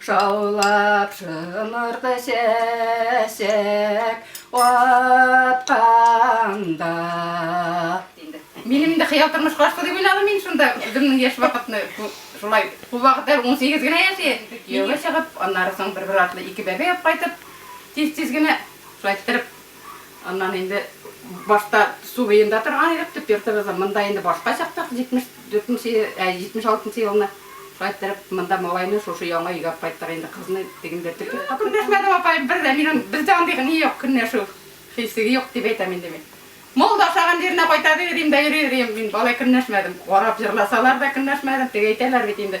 Шаулап шымырды чәчәк атканда. Минем инде хыял тормыш каршы дип уйладым мин шунда үземнең яшь вакытны шулай ул вакытта 18 генә яши кияүгә чыгып аннары соң бер-бер артлы ике бәбәй алып кайтып тиз-тиз генә шулай китереп Аннан инде башта су буенда торган идек, төп йортыбыз монда инде башка чактык, 74 нче, 76 нчы елны. Шулай иттереп, монда малайны шушы яңа өйгә алып кайттык инде, кызны тегендә төп йортка. Көнләшмәдем, апаем, бер дә. Минем бездә андый ни юк, көнләшү хисе юк дип әйтәм инде мин. Мул да ашаган җиренә кайта, ди, йөрим дә йөри, йөрим. Мин алай көнләшмәдем. Карап җырласалар да көнләшмәдем, теге әйтәләр бит инде.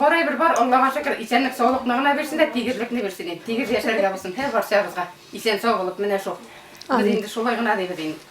Бар әйбер бар, Аллага шөкер, исәнлек саулыкны гына бирсен дә, тигезлекне бирсен инде, тигез яшәргә булсын һәр барчабызга, исән сау булып, менә шул. Без инде шулай гына дибез инде.